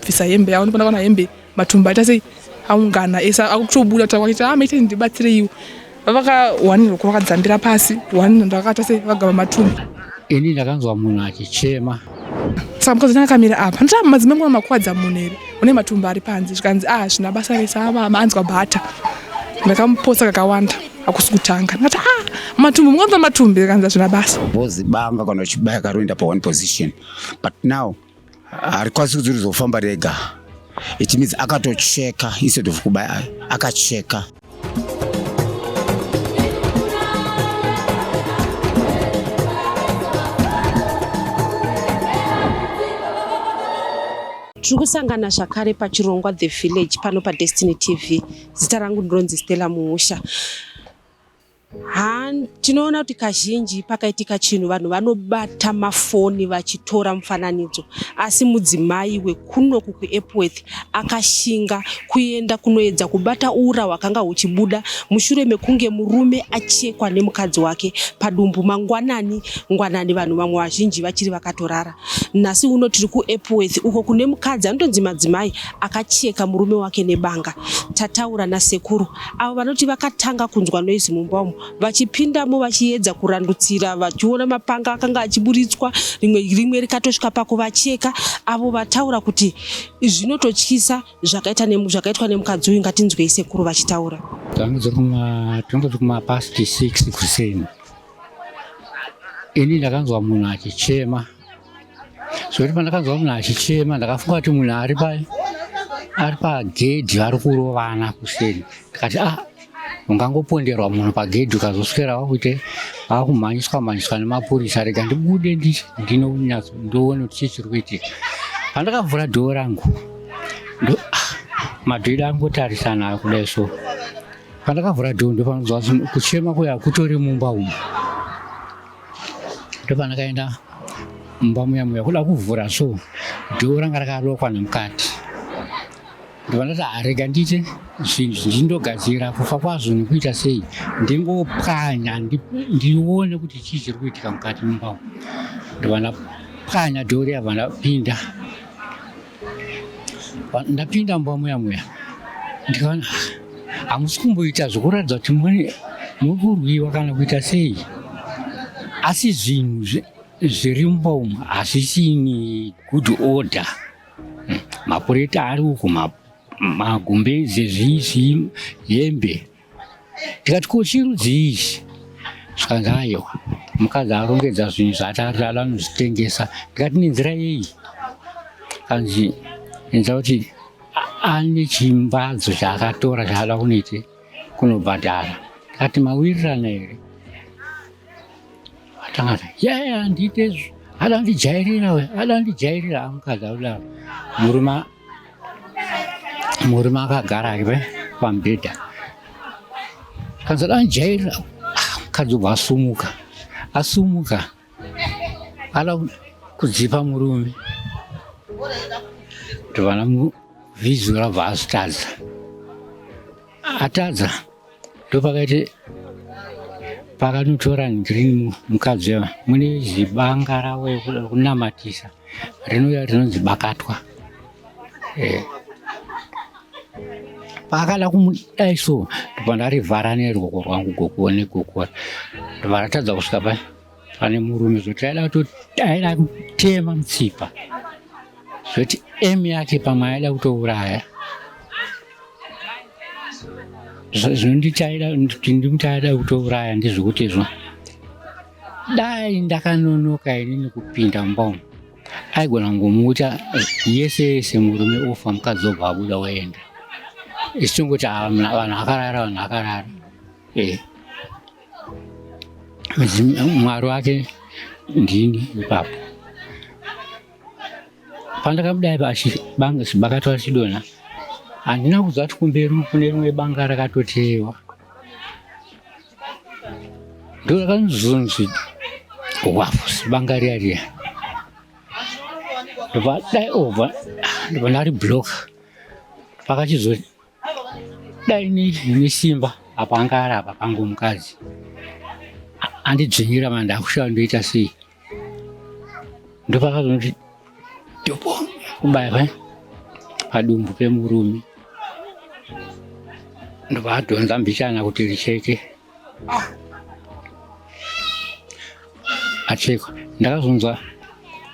bvisa hembe yawo ndipona kana hembe matumba aita sei aungana ese akutobuda kutaura kwachita ah maitei ndibatsireiwo vavaka one roko vakadzambira pasi one ndakata sei vagama matumba ini ndakanzwa munhu achichema saka mukadzi ndakamira apa ndita madzimai mwana makwadza munhu here une matumba ari panze zvikanzi ah zvina basa rese ava maanzwa bhata ndakamuposa kakawanda akusi kutanga ndikati ah matumbu mukanza matumbi kanza zvina basa vozibanga kana uchibaya karoenda pa one position but now harikwanisi kudzirizofamba rega it means akatocheka instead of kubaya akacheka tiri kusangana zvakare pachirongwa the village pano padestiny tv zita rangu ndinonzi stella muusha Ha, tinoona kuti kazhinji pakaitika chinhu vanhu vanobata mafoni vachitora mufananidzo asi mudzimai wekunoku kuEpworth akashinga kuenda kunoedza kubata ura hwakanga huchibuda mushure mekunge murume achekwa nemukadzi wake padumbu mangwanani ngwanani vanhu vamwe vazhinji vachiri vakatorara nhasi uno tiri kuEpworth uko kune mukadzi anotonzi madzimai akacheka murume wake nebanga tataura nasekuru avo vanoti vakatanga kunzwa noise mumba umu vachipindamo vachiedza kurandutsira vachiona mapanga akanga achiburitswa rimwe rimwe rikatosvika pakuvacheka avo vataura kuti zvinototyisa zvakaitwa nemukadzi uyu ngatinzwei sekuru vachitaura tangozi kumapast 6 kuseni ini ndakanzwa munhu achichema zvekuti pandakanzwa munhu achichema ndakafunga kuti munhu ari pa ari pagedhi ari kurovana kuseni ndikati a ah, ungangoponderwa munhu pagedhi ukazoswera wakuite akumhanyiswa mhanyiswa nemapurisa rega ndibude ndinonyatso ndoone kuti chii chiri kuitika pandakavhura dhoo rangu ndo ah, madhiri angotarisana kudai so pandakavhura dhoo ndopanonzwa kuchema kuya kutori mumba umu ndopanakaenda mumba muya muya kuda kuvhura so dhoo ranga rakarokwa nemukati ndovandati arega ndiite zvinhu zvinji ndogadzira kufa kwazvo nekuita sei ndingopwanya ndione kuti chii chiri kuitika mukati mumba umu ndovandapwanya dhoo riya vandapinda ndapinda mumba muya muya ndikaona hamusi kumboita zvekuratidza kuti muri kurwiwa kana kuita sei asi zvinhu zviri mumba umu hazvisini good order hmm, mapureti ari uku magumbeze zviizvi hembe ndikati ko chirudzii ichi zvikanzi aiwa mukadzi arongedza zvinhu zvatarara anozvitengesa ndikati nenzira yei kanzi enza kuti ane chimbadzo chaakatora chaada kunoite kunobhadhara ndikati mawirirana here atangati yaya ndiite izvo ada ndijairira we ada ndijairira amukadzi akudaro murume murume akagara ive pamubhedha kanzi danjaira mukadzi ubva asumuka asumuka ada kudzipa murume tovana vizura bva azvitadza atadza ndopakaiti pakanotora ndrini mukadzi ava mune zibanga ravo rekunamatisa rinouya rinonzi bakatwa eh. paakada kumudai so ndobva ndarivhara neruoko rwangu gokuone kokora ndobva ndatadza kusvika pai pane murume zvoti aida kutoaida kutema mutsipa zvoti em yake pamwe aida kutouraya zvondichaida kuti ndimuchaida kutouraya ndezvekuti izvo dai ndakanonoka ini nekupinda mumba umu aigona kungomuuta yese yese murume ofa mukadzi obva abuda oenda ichitongoti ah, vanhu akarara vanhu akarara ee eh. mwari wake ndini ipapo pandakabuda ipa bakatwa chidona handina kuziva kuti kumberi kune rimwe banga rakatoteyewa ndo rakanzonzi wafusi banga riya riya ndobva dai obva ndobva ndari block pakachizoti dai nine simba apa anga ari apa pangu mukadzi andidzvinyira manda akushava ndoita sei ndopakazonoti dopo kubairwa eh? padumbu pemurume ndopaadhonza mbichana kuti richeke Ah. Achekwa, ndakazonzwa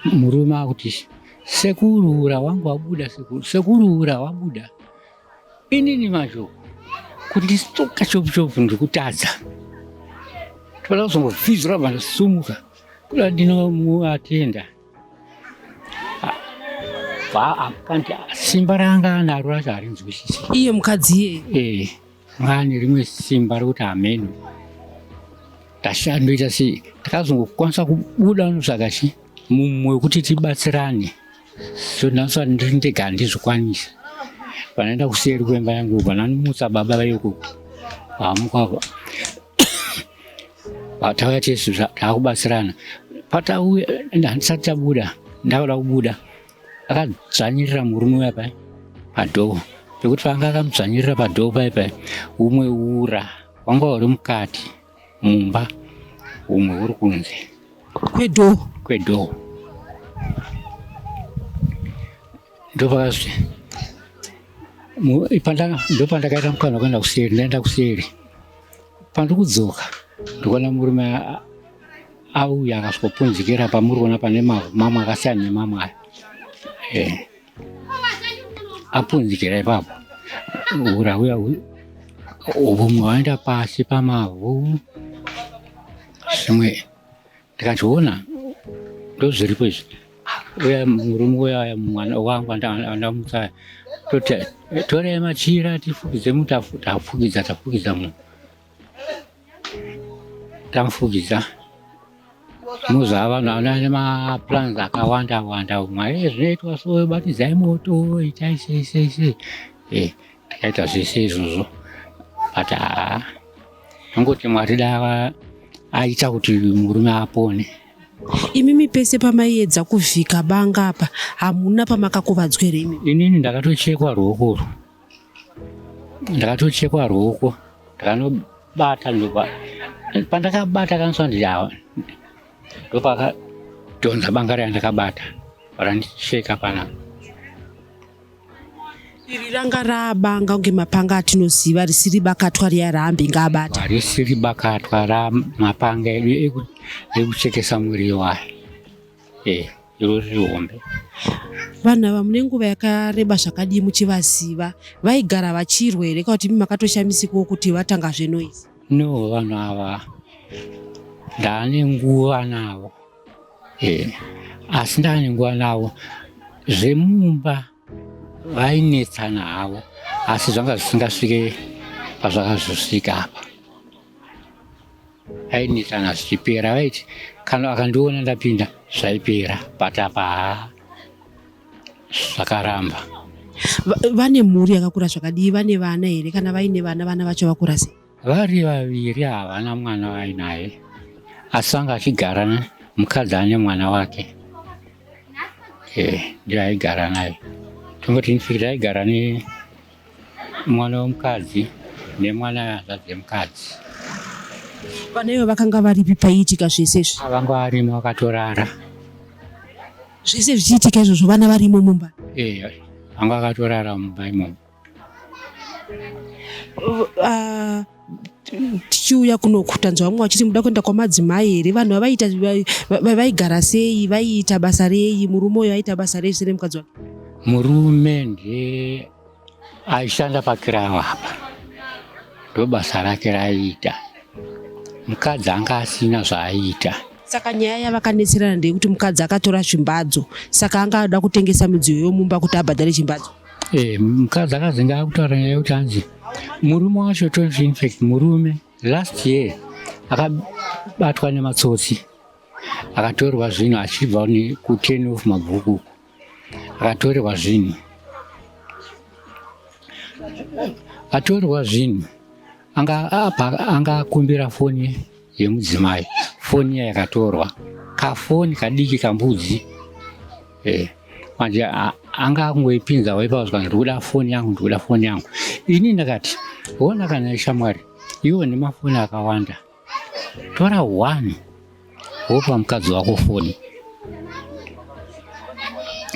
murume akuti sekuru ura wangu wabuda, sekuru sekuru ura wabuda. Inini mazvo kuti stoka chopuchopu ndikutadza toda kuzongopfidzura vandosumuka kuda ndinomuatenda simba ranga naro racho harinzwisisi iye mukadzi iyeye eh. Mwari ane rimwe simba rekuti hameno tashandoita sei takazongokwanisa kubuda notsvaga chi mumwe wekuti tibatsirane so ndinosa ndiri ndega handizvikwanisa vanaenda kuseri kwemba yangu vananimutsa baba vayoko vamuka vatauya tese taakubatsirana patauya handisati tabuda ndakuda kubuda akadzvanyirira murume uya pai padhoo pekuti paanga akamudzvanyirira padhoo pai pai umwe ura wanga uri mukati mumba umwe uri kunze kwedhoo kwedhoo ndopakazvi ndopandakaita mukana wekuenda kuseri ndaenda kuseri Pandiri kudzoka ndikuona murume auya akasvikopunzikira pamuri kuona pane mamwe akasiyana nemamwe aya eh. apunzikira ipapo hura uya vumwe waenda pasi pamavhu zvimwe ndikazviona ndozviripo izvi uya murume uyaya mwana wangu andamutsaya toti torei machira tifukidze mu tafukidza tafukidza munhu tamufukidza muzava naane maplans akawanda wanda umwe zvinoitwa so batidzai moto itai sei sei sei eh, takaita zvese izvozvo but haa angoti mwari dava aita kuti murume apone imimi pese pamaiedza kuvhika banga apa hamuna pamakakuvadzwa here imi inini ndakatochekwa ruoko urwu ndakatochekwa ruoko ndakanobata pandakabata kaniswa ndiawa ndopakadhonza banga raya ndakabata vakandicheka panapa Iri ranga rabanga kunge mapanga atinoziva risiri bakatwa riya raambi ngaabata. Risiri bakatwa ra mapanga edu ekuchekesa muriwo aya. Eh, iro riri hombe. Vanhu ava mune nguva yakareba zvakadii muchivaziva? Vaigara vachirwa here kana kuti imi makatoshamisikawo kuti vatanga zvenoizi? No, vanhu ava ndane nguva navo. asi ndaningwa navo zvemumba vainetsana havo asi zvanga zvisingasvike pazvakazosvika apa ainetsana zvichipera vaiti kana akandiona ndapinda zvaipera but apa haa zvakaramba vane mhuri yakakura zvakadii vane vana here kana vaine vana vana vacho vakura sei Vari vaviri havana mwana vainaye asi vanga vachigara mukadzi ane mwana wake eh, ndiye aigara naye tongoti infact aigara nemwana wemukadzi nemwana hanzvadzi yemukadzi vana ivo vakanga varipi paiitika zvese izvi vanga varimo vakatorara zvese zvichiitika izvozvo vana varimo mumba eya vanga vakatorara mumba imomo Uh, tichiuya kunoku tanzwa vamwe vachiti muda kuenda kwamadzimai here vanhu vavaiita vaigara sei vaiita basa rei murume uyo aiita basa rei sere mukadzi wake murume ndiye aishanda pakirawo apa ndobasa rake raiita mukadzi anga asina zvaaiita so Saka nyaya yavakanetserana ndeyekuti mukadzi akatora zvimbadzo, saka anga ada kutengesa midziyo yomumba kuti abhadhare chimbadzo. Eh, mukadzi akazenge akutaura nyaya yekuti hanzi murume wacho tonzi infact murume last year akabatwa nematsotsi akatorwa zvinhu achibva kuten of mabhuku Atorerwa zvinhu. Atorerwa zvinhu. Anga apa anga akumbira foni yemudzimai. Foni yakatorwa. Kafoni kadiki kambudzi. Eh. Manje anga akungoipinza waipa zvangu ndikuda foni yangu ndikuda foni yangu. Ini ndakati, "Wona kana shamwari, iwo nemafoni akawanda." tora one wopa mukadzi wako foni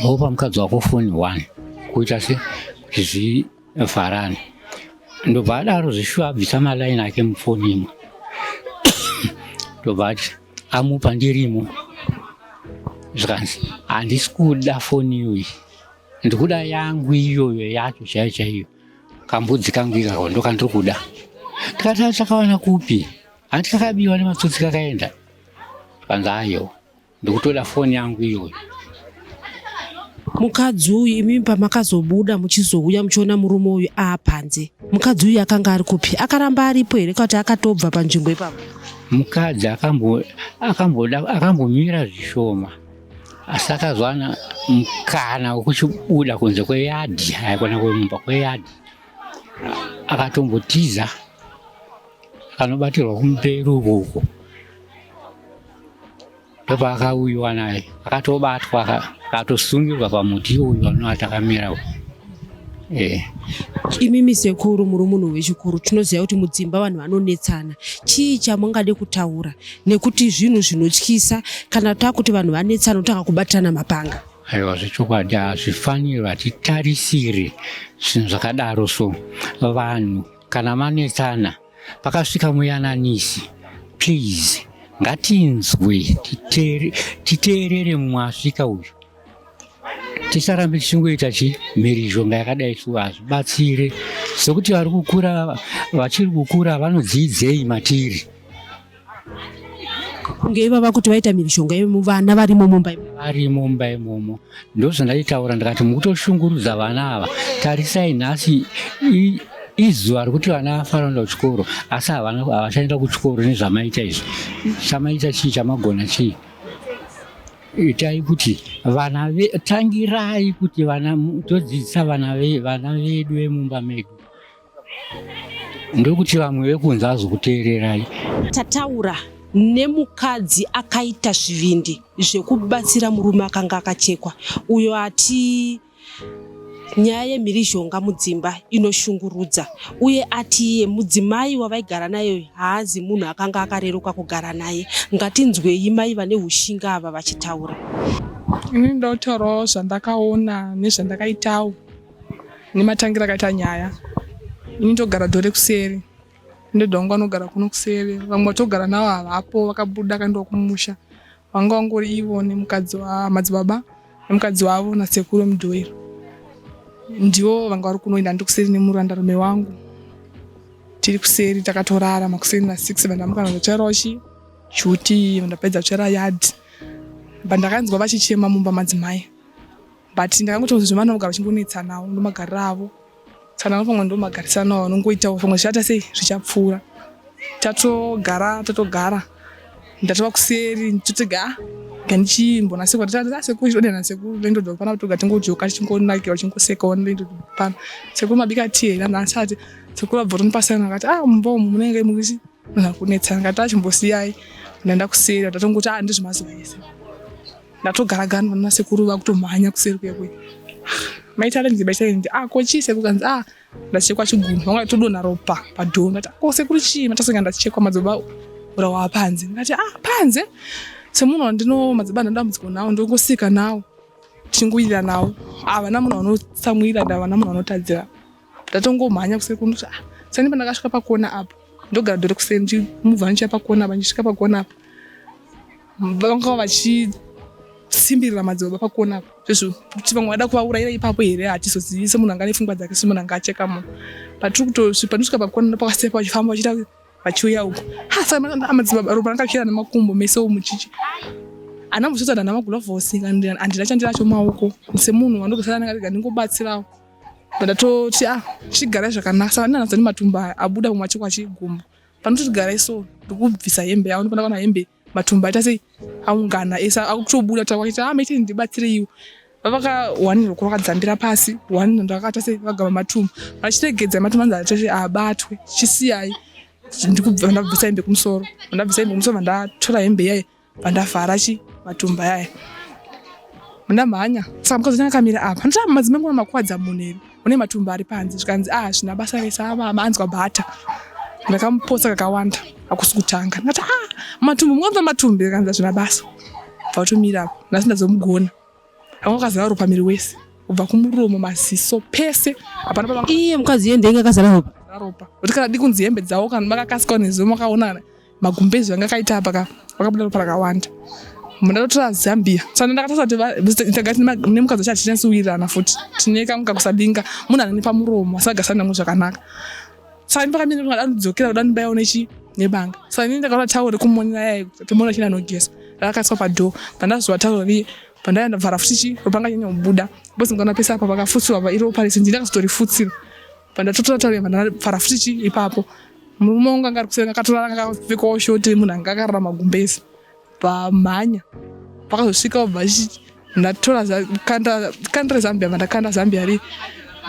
wopa mukadzi wako foni one kuita se kuti zvivharane ndobva adaro zveshuwa abvisa malaini ake mufoni imwe ndobva ati amupa ndirimo zvikanzi handisi kuda foni iyoyi ndikuda yangu iyoyo yacho chaiyo chaiyo Kambudzi kangu ikako ndokandiri kuda. Tikati achakawana kupi? Hanti kakabiwa nematsotsi kakaenda. Kanzi ayo ndikutoda foni yangu iyoyo. Mukadzi uyu imimi pamakazobuda muchizouya muchiona murume uyu aapanze. Mukadzi uyu akanga ari kupi? Akaramba aripo here kuti akatobva panzvimbo ipapo? Mukadzi akamboda akambomira zvishoma. asi akazowana mukana wekuchibuda kunze kweyadhi aikona kwemumba kweyadhi akatombotiza akanobatirwa kumberi ukoko ndopaakauyiwa naye akatobatwa akatosungirwa pamuti uyu anoatakamira uyu Eh. Imimi sekuru muri munhu wechikuru tinoziva kuti mudzimba vanhu vanonetsana chii chamungade kutaura nekuti zvinhu zvinotyisa kana takuti vanhu vanetsana otanga kubatirana mapanga aiwa zvechokwadi hazvifaniri vatitarisire zvinhu zvakadaro so vanhu kana vanetsana pakasvika muyananisi please ngatinzwe titeerere mumwe asvika uyu tisarambe tichingoita chi mhirizhonga yakadai so hazvibatsire sokuti vari kukura vachiri kukura vanodziidzei matiri kunge ivava kuti vaita mhirizhonga imomo vana varimo mumba vari mumba imomo ndozvandaitaura ndikati mukutoshungurudza vana ava tarisai nhasi izuva rekuti vana vafanoenda kuchikoro asi havachaenda kuchikoro nezvamaita izvi chamaita chii chamagona chii itai kuti vana ve, tangirai kuti vana todzidzisa vana ve, vana vedu vemumba medu ndokuti vamwe vekunze azokuteererai tataura nemukadzi akaita zvivindi zvekubatsira murume akanga akachekwa uyo ati Nyaya yemhirizhonga mudzimba inoshungurudza uye ati iye mudzimai wavaigara naye haazi munhu akanga akareruka kugara naye. Ngatinzwei mai vane ushinga ava vachitaura. Ini ndotaurawo zvandakaona nezvandakaitawo nematangira akaita nyaya. Ini ndogara dore kuseri ndodonga anogara kuno kuseri vamwe vatogara navo havapo vakabuda kandiwa kumusha Vanga vangori ivo nemukadzi wamadzibaba nemukadzi wavo nasekuru vemudhoiro ndivo vanga vari kunoenda ndikuseri nemurandarume wangu tiri kuseri takatorara makuseri na six vandamukana zvacharochi chuti vandapedza kuchera yard but ndakanzwa vachichema mumba madzimai but ndakangotonzwa zvevanogara vachingonetsanawo ndomagariro avo Kana pamwe ndo magarisano aunongoita pamwe zvichata sei zvichapfuura. Tatogara tatogara ndatova kuseri ndotega ah, gandichimbonase kuti tata sekuru chidode na sekuru lendo do pana kutoga tingojoka chingonakira chingoseka one lendo pana sekuru mabika tea na ndasati sekuru abvotoni pasana akati ah mbo munenge mukusi Kana kunetsana ngati achimbosiyai ndaenda kuseri ndatongoti ah ndizvemazuva ese ndatogara gani vana sekuru vakutomhanya kuseri kwekwe maitarenzi maitarenzi ah ko chii sekuru kanzi ah ndachekwa chigunhu vanga todonha ropa padhoo ndati ko sekuru chii matasonga ndachekwa madzibaba urawa panze ndikati ah panze semunhu wandino madzibaba ndandambudziko nawo ndongosika nawo tichingoyira nawo havana ah, munhu vanotsamwira ndavana munhu vanotadzira ndatongomhanya kuseri kuno kuti ah, sani pandakasvika pakona apo ndogara dore kuseri ndimubva ndichiya pakona apa ndichisvika pakona apa vanga vachisimbirira madzibaba pakona apa zvezvo kuti vamwe vada kuvaurayira ipapo here hatizozivi semunhu anga nefungwa dzake semunhu anga acheka munhu patiri kutosvi pandisvika pakona ndopakasei pachifamba vachiita vachiuya uko hasamadzibaba ropa rangakira nemakumbo mese omuchichi ana muzvitsa dana magulavhosi andina chandiracho maoko semunhu wandogasara anenge ndingobatsirawo ndatoti a ah, chigara zvakanaka saka ndinanatsa ndi matumba aya abuda kumwe achikwa chigumbu panoti tigarai so ndikubvisa hembe yavo ndipona kana hembe matumba aita sei aungana ese akutobuda kuti akuita ah maitei ndibatsireiwo vavaka one roko vakadzambira pasi one ndakata sei vagama matumba vachiregedza matumba anzi atoti abatwe chisiyai ndikubva ndabvisa hembe kumusoro ndabvisa hembe kumusoro vandatora hembe iyayi Pandafara chi matumba yaya. Muna mhanya. Saka mukadzi wanyanga kamira apa. Ndosaka madzimai ngona makwadza munhu here. Une matumba ari panze. Zvikanzi ah zvina basa rese ava anzwa bhata. Ndakamuposa kakawanda. Akusi kutanga. Ndati ah matumbu mwanza matumbu zvikanzi zvina basa. Vatomira apa. Nasi ndazomugona. Anga kazara ropa miri wese. Kubva kumuromo maziso pese. Hapana papa. Iye mukadzi yende inga kazara ropa. Ropa. Kuti kana dikunzi hembe dzawo kana makakasika nezumo makaonana. magumbezi anga akaita apa ka vakabuda ropa rakawanda munda totora zambia saka ndakatasa kuti tagati nemukadzi wacho hatinasi kuwirirana futi tine kamwe kakusadinga munhu anani pamuromo asagarisana namwe zvakanaka saka ini pakamira kuti ndadanidzokera kuda ndibaya unechi nebanga saka ini ndakaona tawo rekumonera yaye pemona chii nanogeza rakakaiswa padhoo pandazowa tawo riye pandaiya ndabvara futi chi ropanga nyanya kubuda bcause ndikaona pese apa pakafutsirwa pa iropa rese ndini ndakazotorifutsira Pandatotora tauri pandafara futi chi ipapo murume wangu anga ari kuseri akatora anga akapfekawo shoti munhu anga akarara magumbezi pamhanya pakazosvika obva achiti ndatora kandira zambia vandakanda zambia ri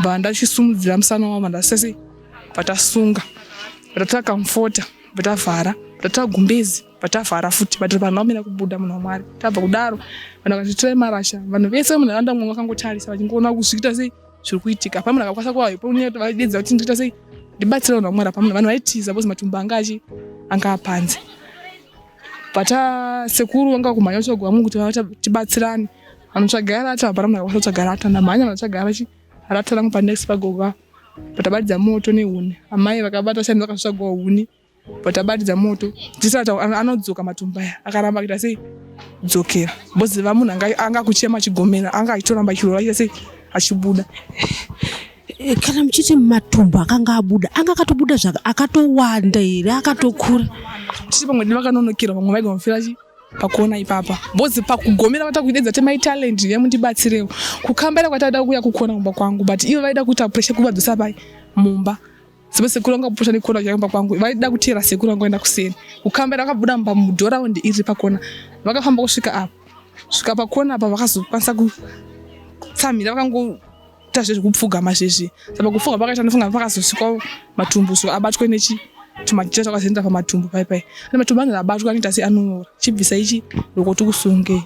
bva ndachisumudzira musana wavo vandasese vatasunga vatatora kamfota vatavhara vatatora gumbezi vatavhara futi vati vanhu vamira kubuda munhu wamwari tabva kudaro vanhu vakatitirai marasha vanhu vese munharaunda mwangu vakangotarisa vachingoona kuzviita sei zviri kuitika pamwe ndakakwanisa kuvaedza kuti ndikuita sei ndibatsira vanhu vamwara pamwe vanhu vaitiza bcoz matumbu anga achi anga apanze but ah, sekuru vanga kumhanya kutsvaga vamwe kuti tibatsirane vanotsvaga rata hapana munhu akakwanisa kutsvaga rata ndamhanya vanotsvaga rachi rata rangu panext pagoga but abadidza moto nehuni amai vakabata shani vakasvagwa huni but abatidza moto tisati anodzoka matumba aya akaramba kuita sei dzokera boziva munhu anga kuchema chigomera anga achitoramba chirova chita sei achibuda eh, kana muchiti matumbu akanga abuda anga akatobuda zvaka akatowanda here akatokura titi pamwe di vakanonokerwa vamwe vaigomafira chii pakuona ipapa bozi pakugomera vata kuidedza te my talent ndiye mundibatsirewo kukambaira kwataida kuuya kukona kumba kwangu but ivo vaida kuita pressure kuvadzosa pai mumba Sebe sekuru vanga kupota nekona chaimba kwangu vaida kutera sekuru vanga enda kuseni kukamba ira vakabuda mumba mudhoraundi iri ripa kona vakafamba kusvika apa svika pakona apa vakazokwanisa kutsamhira vakangoita zvezvekupfugama zvezvi saka kupfuga pakaita ndofunga pakazosvikawo matumbu so abatwe nechi tumachira twakazoenda pamatumbu pai pai ane matumbu anenge abatwa anoita se anonyora chibvisa ichi lokuti kusungei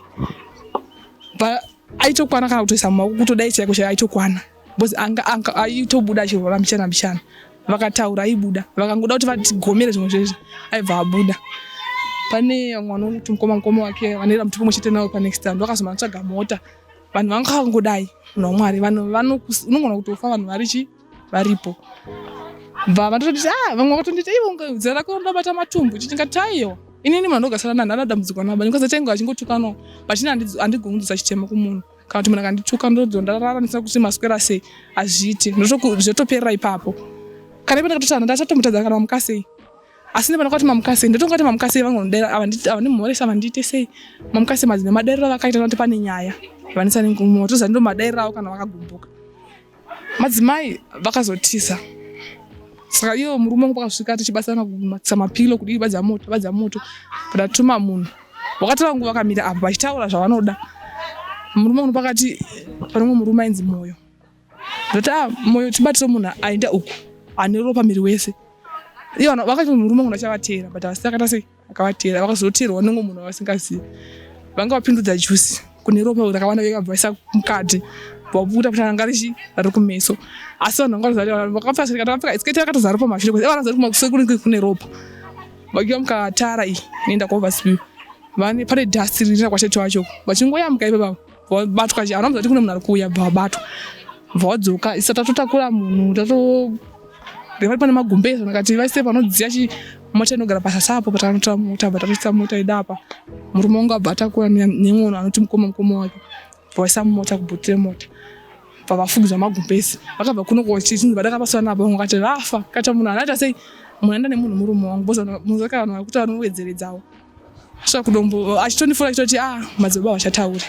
aitokwana kana kutoisa mumaoko kutodai chaiko chai aitokwana bcause anga anga aitobuda achirwa vambichana mbichana vakataura aibuda vakangoda kuti vatigomere zvimwe zvezvi aibva abuda pane mwana uti mukoma mukoma wake vanoera muti kumwe chete nawo panext stand vakazomanatsvaga mota vanhu vanga vakangodai munhu wamwari vanhu unongona kutofa vanhu vari chi varipo bva vanototi a ah, vamwe vakatondiita ivo zera rako ndabata matumbu chitingati aiwa inini munhu andogasara nanhu anadambudzikwa nabani bcause tainge achingotukanawo but ini andigoni kudzisa chitema kumunhu kana kuti munhu akandituka ndozondararanisira kuti maswera sei hazviiti zvotoperera ipapo kana ipo ndakatotana ndatatomutadza kana mamuka sei asi nepana kwati mamuka sei ndotonga kuti mamuka sei vangondaira avandimhoresa vandiite sei mamuka sei madzimai madairiro avakaita kuti pane nyaya vanisa nengumo toziva ndo madairiro avo kana vakagumbuka madzimai vakazotisa saka iyo murume wangu pakasvika tichibatsirana kumatisa mapilo kudii badza moto badza moto patatuma munhu wakatanga nguva vakamira apo vachitaura zvavanoda murume uno pakati panomwe murume ainzi moyo ndoti ah, moyo tibatire munhu aenda uku ane ropa miri wese iyo vakati murume uno achavateera but asi akaita sei Vakavatera vakazoterwa vanenge munhu wavasingazivi vanga vapindudza juice kune ropa rakavana vekabva isa mukati vabuda kuti ranga richi rari kumeso asi vanhu vanga vazari vakapfeka svikati vakapfeka isiketi rakatozara ropa mashure kuti vana zari kumakusekuri kune ropa vakiwa mukatara iyi inoenda kuoverspill vane pane dust riri rakwacheto vacho vachingoyambuka ipapavo wabatwa chii anomuza kuti kune munhu ari kuuya bva wabatwa bva wadzoka isa tatotakura munhu tato vari pane magumbezi vakati vaise panodziya mota inogara pasasa apo patanotora mota abva tatoisa mota ida apa murume wangu abva atakura nemwono anoti mukoma mukoma wake vaisa mumota kubhuti remota pavafugidza magumbezi vakabva kuno kochinzi vadakapasana navo vamwe vakati vafa kata munhu anaita sei munhu aenda nemunhu murume wangu bozamunhu zvakaa vanhu vakuti vanowedzeredzawo Svakudombo achitondifona achitoti ah madzibaba vachataure.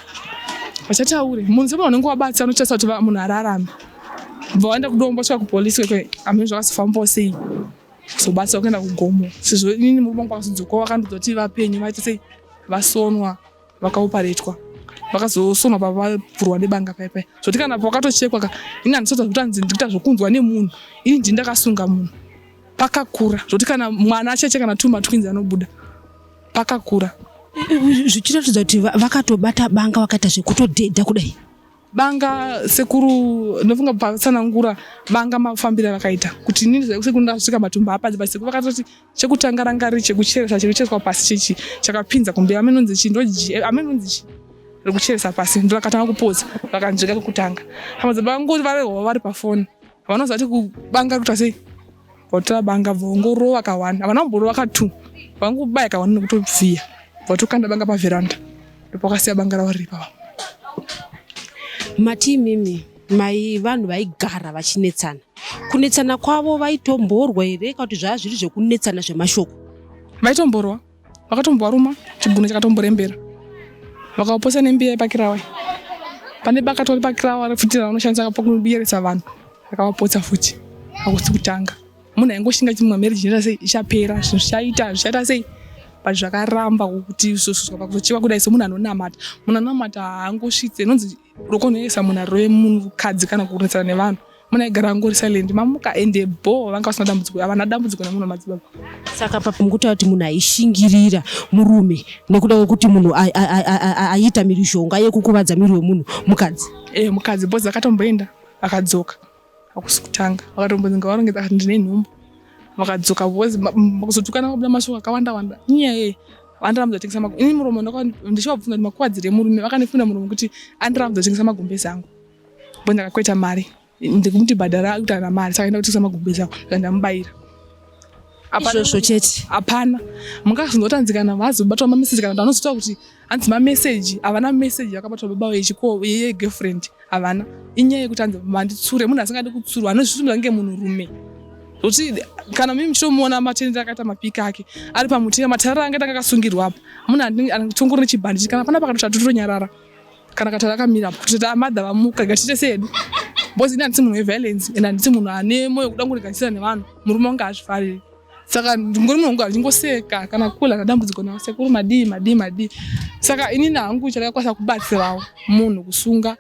Vachataure. Munhu sema unenge wabatsa unotarisa kuti munhu ararame. Bva waenda kudombo svika kupolice kwe amene zvakazofamba sei. Sobatsa ukaenda kugomo. Sezvo inini murume wangu akazodzoka wakandidza kuti vapenyu vaita sei vasonwa. vakaoparetwa vakazosonwa pavavhurwa nebanga paya paya zvoti kana pakatochekwa ka ini handisota zvekuti hanzi ndikuita zvokunzwa nemunhu ini ndini ndakasunga munhu pakakura zvoti kana mwana acheche kana tuma twinzi anobuda pakakura zvichiratidza kuti vakatobata banga vakaita zvekutodhedha kudai banga sekuru ndofunga patsanangura banga mafambiro avakaita kuti inini sekuru ndasvika matumbu hapadzi but sekuru vakatoti chekutanga ranga riri chekucheresa chekuchereswa pasi chechi chakapinza kumbe amenonzi chi ndoji eh, amenonzi chi rekucheresa pasi ndorakatanga kupodza rakanzvika kekutanga hama dzabangoti varehova vari pafoni vanozati kubanga kuta sei votora banga vongorova kawanda havana kumborova katu vangobaya kawanda nekutobviya votokanda banga pavheranda ndopakasiya banga ravo riri pava mati imimi mai vanhu vaigara vachinetsana kunetsana kwavo vaitomborwa here ka kuti zvava zviri zvekunetsana zvemashoko vaitomborwa vakatombovaruma chigunwe chakatomborembera vakaoposa nembiya yepakirawa pane baka tori pakirawa refutira vanoshandisa pakubiyeresa vanhu rakavapotsa futi akusi kutanga munhu aingoshinga chimwa marriage inoita sei ichapera zvinhu zvichaita zvichaita sei but zvakaramba kuti zvosusuka pakuzochiva kudai semunhu anonamata munhu anonamata haangosvitse inonzi unokonhoyesa munhu arove mukadzi kana kukurunisana nevanhu munhu aigara angori silent mamuka ende bho vanga vasina dambudziko havana dambudziko nemunhu wemadzibaba saka papi mukutaura kuti munhu aishingirira murume nekuda kwekuti munhu aiita mhirizhonga yekukuvadza miri wemunhu mukadzi e mukadzi bhozi akatomboenda akadzoka hakusi kutanga vakatombonzi ngavarongedza kati ndine nhumbu vakadzoka because kuzotukana kwabuda mashoko akawanda wanda inyaya yei vandirambudza tengesa magombe ini muromo ndichivabvunza kuti makuwadzire murume vakandifunira muromo kuti andirambudza tengesa magumbezi angu bo ndakakweta mari ndikumuti bhadhara akutaura mari saka enda kutengesa magumbezi angu saka ndamubayira izvozvo chete hapana mungazongotanzikana vazi kubatwa mameseji kana kuti anozoita kuti hanzi mameseji havana meseji yakabatwa baba vechiko yegirlfriend havana inyaya yekuti hanzi manditsure munhu asingadi kutsurwa anozvitumira kunge munhurume kuti kana mimi muchitomuona matendero akaita mapiki ake ari pamutira matarara ange tanga akasungirwa apa munhu anotongori nechibhanditi kana pana pakatotatotonyarara kana katara kamira kuti tamadha vamuka gatiite sedu bcause ini handisi munhu weviolence and handisi munhu ane moyo kuda kungoreganisira nevanhu murume wange azvifariri saka ndingori munhu wangu handingoseka kana kula kadambudziko navo sekuru madii madii madii saka inini hangu chakakwanisa kubatsirawo munhu kusunga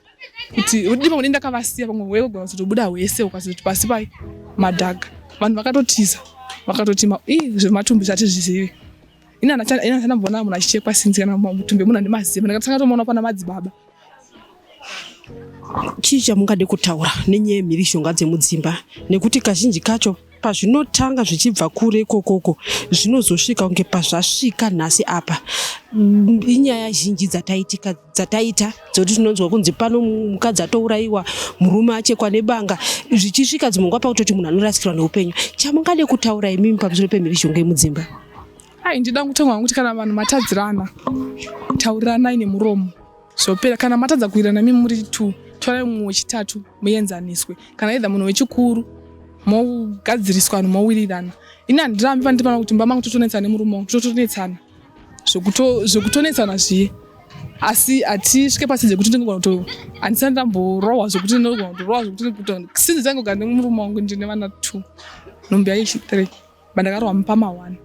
kuti rudi pamwe denda kavasiya pamwe hwee kugona kuzotobuda hwese ukazoti pasi pai madhaga vanhu vakatotiza vakatoti zvematumbi zvatizvizivi ini handisana mbona munhu achichekwa sinzi kana mutumbi munhu andimaziva ndakatanga tomuona pana madzibaba chii chamungade kutaura nenyaya yemhirishonga dzemudzimba nekuti kazhinji kacho pazvinotanga zvichibva kure ikokoko zvinozosvika kunge pazvasvika nhasi apa mm, inyaya zhinji dzataitika dzataita dzokuti tinonzwa kunzi pano mukadzi atourayiwa murume achekwa nebanga zvichisvika dzimwe nguva pakutoti munhu anorasikirwa neupenyu chamungade kutaura imimi pamusoro pemhirizhonga yemudzimba Hai ndida kutanga kuti kana vanhu matadzirana tauriranai nemuromo zvopera kana matadza kuirana mi muri t torai mumwe wechitatu muenzaniswe kana idha munhu wechikuru mogadziriswa vanhu mowirirana ini handirambi pane tipana kuti mbama kutotonetsana nemurume wangu tototonetsana zvekutonetsana zviye asi hatisvike pasi dzekuti ndingogona kuto handisati ndamborohwa zvekuti ndinogona kutorohwa zvekuti sinzi dzangogara nemurume wangu ndine vana two nhumbi yaishi three Bandakarohwa mupama one.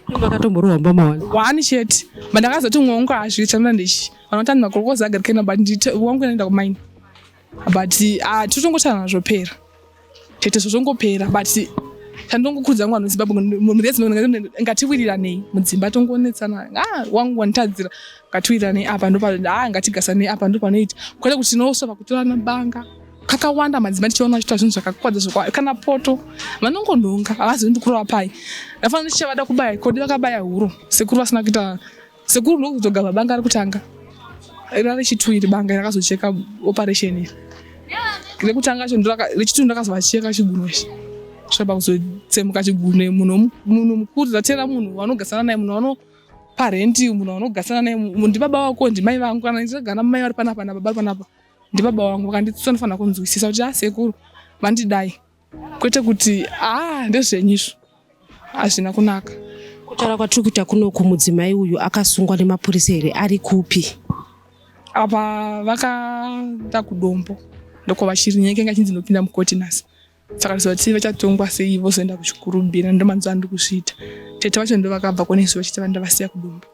Ndakatomborova mupama one. One chete. Bandakazoti mwe wangu hazvi chamira ndichi. Vanotani makorokoza agarikena but ndite wangu inoenda kumaini. But ah totongotana nazvo pera. Tete zvozongopera but chandongokudza wangu anonzi baba murezi ngatiwiriranei mudzimba tongonetsana ah wangu wanitadzira ngatiwiriranei apa ndopa ah ngatigasanei apa ndopanoita kwete kuti tinosova kutorana banga kakawanda madzimai tichiona vachiita zvinhu zvakakwadza zvokwa kana poto vanongonhonga havazivi ndikurova pai ndafana ndichavada kubaya kodi vakabaya huro sekuru vasina kuita sekuru ndokuzoga vabanga ari kutanga rari chitu iri banga rakazocheka operation iri rekutanga cho rechitu ndakazovacheka chigunwe ichi zvaba kuzotsemuka chigunwe munhu munhu mukuru zatera munhu wanogasana naye munhu wano parenti munhu wanogasana naye ndibaba wako ndimai vangu kana ndichagana mai vari panapa nababa vari panapa ndibaba wangu vakandidzidzisa ndinofanira kunzwisisa kuti asekuru ah, vandidai kwete kuti aa ah, ndezvenyu izvo hazvina kunaka kutaura kwatiri kuita kunoku mudzimai uyu akasungwa nemapurisa here ari kupi apa vakaenda kudombo ndokwavachiri nyaya ikanga chinzi ndinopinda mukoti nhasi saka tizoti vachatongwa sei vozoenda kuchikurumbira ndomanzwa andi kuzviita tete vacho ndo vakabva konesu vachiti vanda vasiya kudumba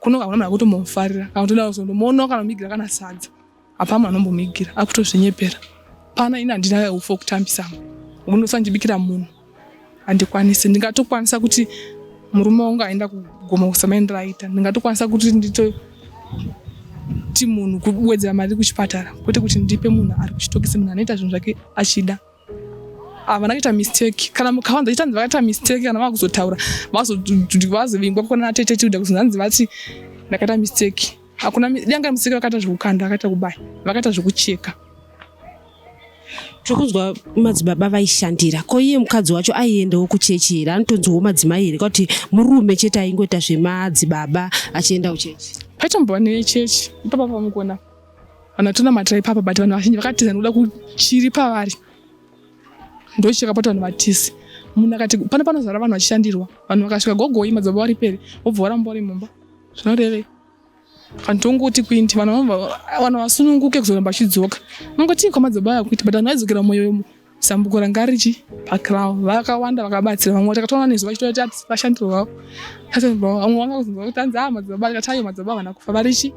kuno kakuna mna kutombomufarira kana kutoda kuzondomuonawo kana mumigira kana sadza hapa mna anombomuigira akutozvinyepera pana ini handina ufo kutambisa mnhu unondosandibikira munhu handikwanisi ndingatokwanisa kuti murume wangu aenda kugoma kusamaendera aita ndingatokwanisa kuti ndito ti munhu kuwedzera mari kuchipatara kwete kuti ndipe munhu ari kuchitokisi munhu anoita zvinhu zvake achida havana kuita mistake kana mukawanza chitanzi vakaita mistake kana vakuzotaura vazovingwa kukona natete tikuda kuzonzi hanzi vati ndakaita mistake hakuna danga mistake vakaita zvekukanda vakaita kubaya vakaita zvekucheka tiri kunzwa madzibaba vaishandira ko iye mukadzi wacho aiendawo kuchechi here anotonzwawo madzimai here kwakuti murume chete aingoita zvemadzibaba achienda kuchechi paitombova nechechi ipapa pamukona vanhu vatonamatira ipapa but vanhu vazhinji vakatiza nekuda kuchiri pavari ndochekapota vanhu vatizi munhu akati pano panozara vanhu vachishandirwa vanhu vakasvika gogoi madzibaba vari peri vobva varamba vari mumba zvinorevei handongoti kuindi vanhu vanhu vasununguke kuzoramba vachidzoka nongotii kwamadzibaba aya kuiti but vanhu vaidzokera mumwoyomo zambuko ranga richi pacrow vakawanda vakabatsira vamwe takatoona nezuva chitoita ati vashandi vavo vamwe vanga kuzonzwa kuti anzi aa madzibaba tikatayo madzibaba vana kufa varichi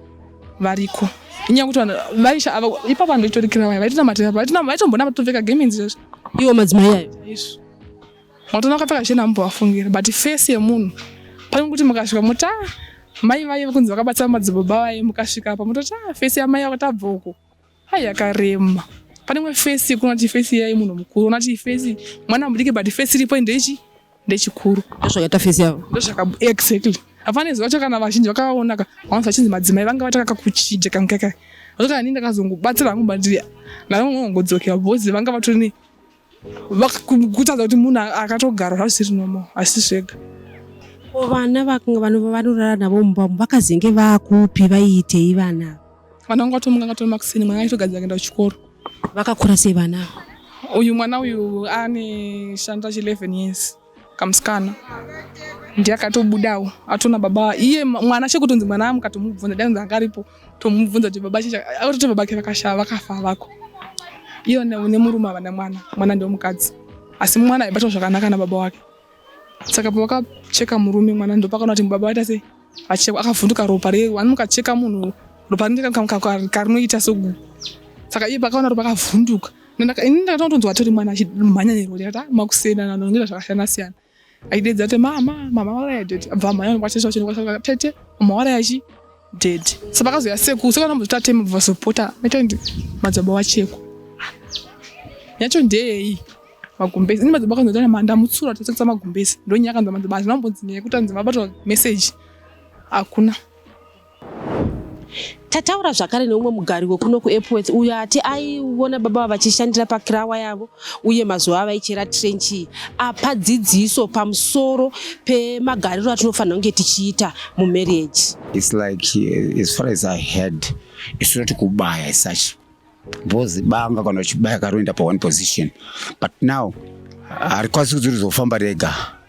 variko inyaya kuti vanhu vaisha ava ipa vanhu vaitorikira vaya vaitonamatira vaitombonama topfeka gemenzi zvazvo iwo madzimai ayo izvo Moto nakapfeka chena ambovafungira but face yemunhu pane kuti mukasvika mota mai vaye kunzi vakabatsa madzibaba vaye mukasvika apa mototi ah face yamai yako tabva uko hai yakarema pane imwe face yekuona kuti face yaye munhu mukuru ona kuti face mwana mudiki but face iripo ndechi ndechikuru ndozvakaita face yavo ndozvaka exactly hapana izwi vacho kana vazhinji vakavaonaka vanonzi vachinzi madzimai vanga vatakaka kuchija kankaka vacho kana nini ndakazongobatsira hangu bandiri navamwe vanongodzokera bhozi vanga vatori kutadza kuti munhu akatogara hazvisiri nomo asi zvega vana vanorara navo mumba umu vakazenge vakupi vaiitei vana vana vanga vatomuka anga tomakuseni mwana aitogadzira kuenda kuchikoro vakakura sei vana uyu mwana uyu ane shanda chi 11 years kamusikana ndiye akatobudawo atona baba iye mwana chekutonzi mwana amuka tomubvunza dainzi angaripo tomubvunza kuti baba chinja akatoti babake vakashaya vakafa vako iyo nemurume avana mwana mwana ndomukadzi asi mwana aibatwa zvakanaka nababa wake saka pavakacheka murume mwana ndopakaona kuti baba vaita sei achekwa akavhunduka ropa re wani mukacheka munhu ropa rinoita sogu saka iye pakaona ropa akavhunduka ini ndakatotonzwa tiri mwana achimhanya nerori ata makusiyana nanongira zvakasiyana siyana aidedza kuti mama mama waraya dedi abva mhanya nokwatete wachinokwaa tete mama waraya chi dedi sa pakazoya seku sekana muzvita teme vazopota metondi madzibaba wacheko yacho ndeyeyi magumbezi ini madzibaba akanzwa tana manda mutsura tatotsa magumbezi ndonyaya akanzwa madzibaba hazvina kumbonzi nyaya yekuti anzi mabatwa message hakuna tataura zvakare neumwe mugari wekuno kuepworth uyo ati aiona baba vachishandira pakirawa yavo uye mazuva avaichera trench iyi apa dzidziso pamusoro pemagariro atinofanira kunge tichiita mumarriage its like as far as i had isu toti kubaya isachi bhozi banga kana uchibaya karoenda pa one position but now harikwanisi kudziri zofamba rega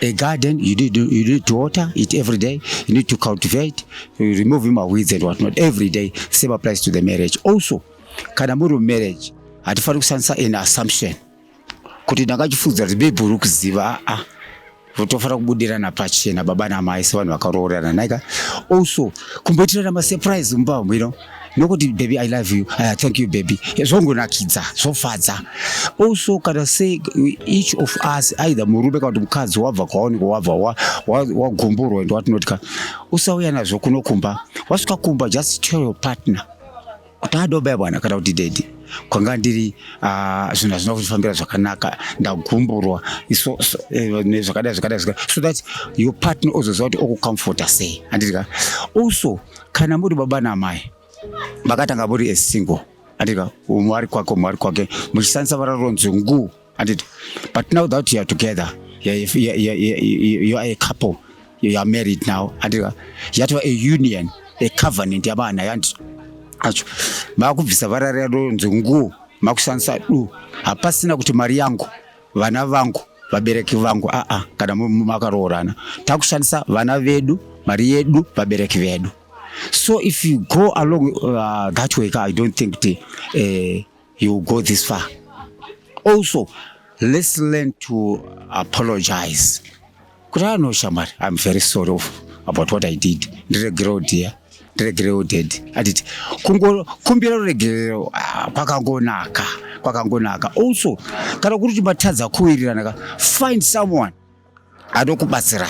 A garden, you need, you need to water it every day, you need to cultivate, you remove him weeds and whatnot every day. Same applies to the marriage. Also, kana muri marriage, hatifani kushandisa an assumption kuti ndakachifudza kuti bebhu uri kuziva aa ah, ah. votofanira kubudirana pachena baba namai sevanhu vakaroorana naika also kumboitirana masurprise mumba mhwino nokuti baby i love you uh, thank you baby zvongonakidza zvofadza also kana se each of us either murume kana kuti mukadzi wabva kwaoniko wabva wagumburwa and watinotka usauya nazvo kuno kumba wasvika kumba just tell your partner kuti adobaya bwana kana kuti dedi kwanga ndiri ah, zvinhu hazvina kufambira zvakanaka ndagumburwa eh, zvakadai zvakadai so that your partner ozoziva kuti okucomforta sei handidika also kana muri baba namai makatanga muri esingle andika umwe ari kwake umwe ari kwake muchishandisa vara ronzi ngu anditi but now that youare together you are a couple you are married now andika yatova a union a covenant yavana yandi acho makubvisa vara rero nzi ngu makushandisa du hapasina kuti mari yangu vana vangu vabereki vangu aa ah, ah, kana makaroorana takushandisa vana vedu mari yedu vabereki vedu so if you go along uh, that way i don't think t, uh, eh, you go this far also let's learn to apologize Kudai no shamwari, I'm very sorry of about what I did. Ndiregerewo dear. Ndiregerewo dad. Anditi kungokumbira ruregerero ah, kwakangonaka. Kwakangonaka. Also, kana kuri kuti matadza kuwirirana ka, find someone anokubatsirai.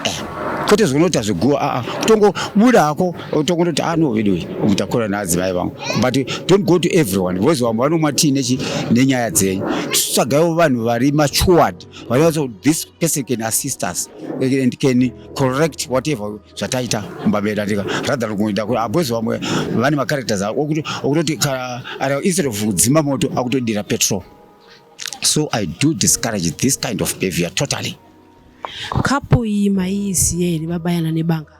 Eh, kwete zvinoita zviguwa aa kutongobuda hako tongondoti ano veduwe mutakura naadzimai vangu but don't go to everyone vozi vamwe vanomwa tii nenyaya dzenyu tsvagaiwo vanhu vari matured but also this person can assist us and can correct whatever zvataita mbabeda tika rather kuita kuti abwezi vamwe vane macharacters okutoti instead of kudzima moto akutodira petrol so i do discourage this kind of behavior totally kapo iyi maiiziye here vabayana nebanga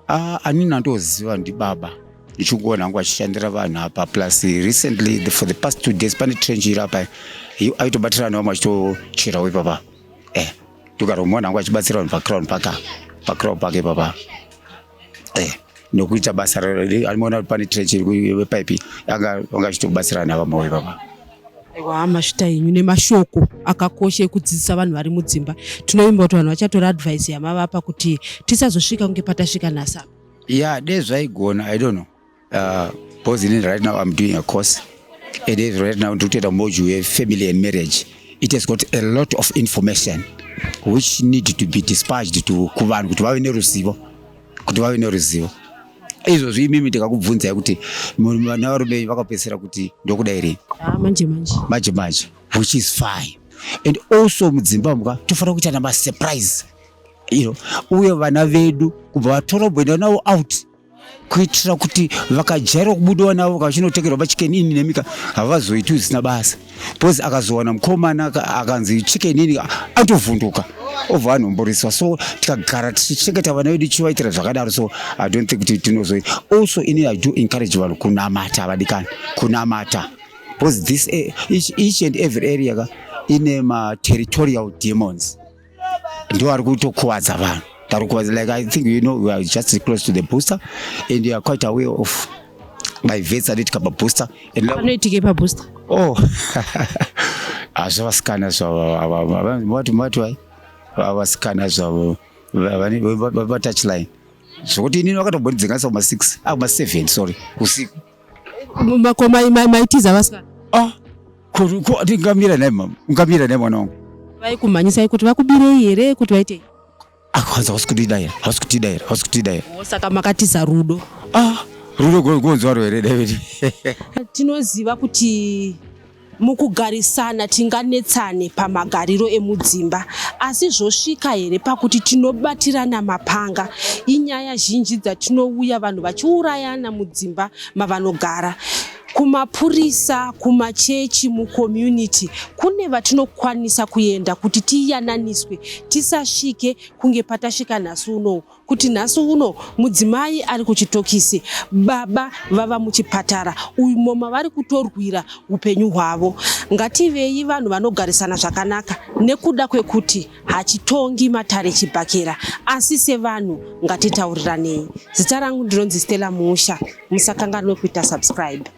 Ah, ani nandoziva ndibaba ndichingona hangu achishandira vanhu apa plus recently the, for the past two days pane trench iri apa aitobatirana vamwe achitocherawo ipapa eh, ndikaromona hangu achibatsira vanhu pacrown paka pacrown pake papa eh, nokuita basa anoona kuti pane trench iri paipi anga achitobatsirana vamwe ipapa aiwa hama svita yenyu nemashoko akakosha ekudzidzisa vanhu vari mudzimba tinovimba kuti vanhu vachatora advice yamavapa kuti tisazosvika kunge patasvika nhasi apa ya dei zvaigona i don't know uh, because in right now i'm doing a course and if right now ndiri kutoita module yefamily and marriage it has got a lot of information which need to be dispatched to kuvanhu kuti vave neruzivo kuti vave neruzivo izvozvi imimi ndikakubvunzai kuti vana varume venyu vakapedzisira kuti ndokuda here ah, manje manje manje manje which is fine and also mudzimba muka tofanira kuita namasurprise iro uye vana vedu kubva vatora kuenda navo out kuitira kuti vakajaira kubudiwa navo kavachinotengerwa machicken ini nemika havazoiti zvisina basa because akazowana mukomana akanzi chike nini atovhunduka obva anomboriswa so tikagara tichichengeta vana vedu tichivaitira zvakadaro so i don't think kuti tinozoi also ini i do encourage vanhu kunamata vadikani kunamata because this eh, each, each and every area ka ine materitorial demons ndiwo ari kutokuvadza vanhu tari kuvadza like i think you know we are just close to the booster and you are quite aware of my vets anoitika pabooster anoitike pabooster oh hazvavasikana zvavavativativai vavasikana zvavo vatouchline zvokuti inini vakatombondidzinganisa kuma six akuma ah, seven sorry usiku Ko maitiza vasikana? Ah, ko ndingamira naye mama, ungamira naye mwana wangu. Vaikumhanyisai kuti vakubirei here kuti vaitei? Ah, kwanza hausi kutida here, hausi kutida here, hausi kutida here. Oh, saka makatiza rudo. Ah, rudo gonzwaro here David? Tinoziva kuti Mukugarisana tinganetsane pamagariro emudzimba, asi zvosvika here pakuti tinobatirana mapanga? Inyaya zhinji dzatinouya vanhu vachiurayana mudzimba mavanogara kumapurisa kumachechi mucommunity kune vatinokwanisa kuenda kuti tiyananiswe tisasvike kunge patasvika nhasi unowu kuti nhasi uno mudzimai ari kuchitokisi baba vava muchipatara umo mavari kutorwira upenyu hwavo ngativei vanhu vanogarisana zvakanaka nekuda kwekuti hachitongi matare chibhakera asi sevanhu ngatitauriranei zita rangu ndinonzi stella musha musakanganwe kuita subscribe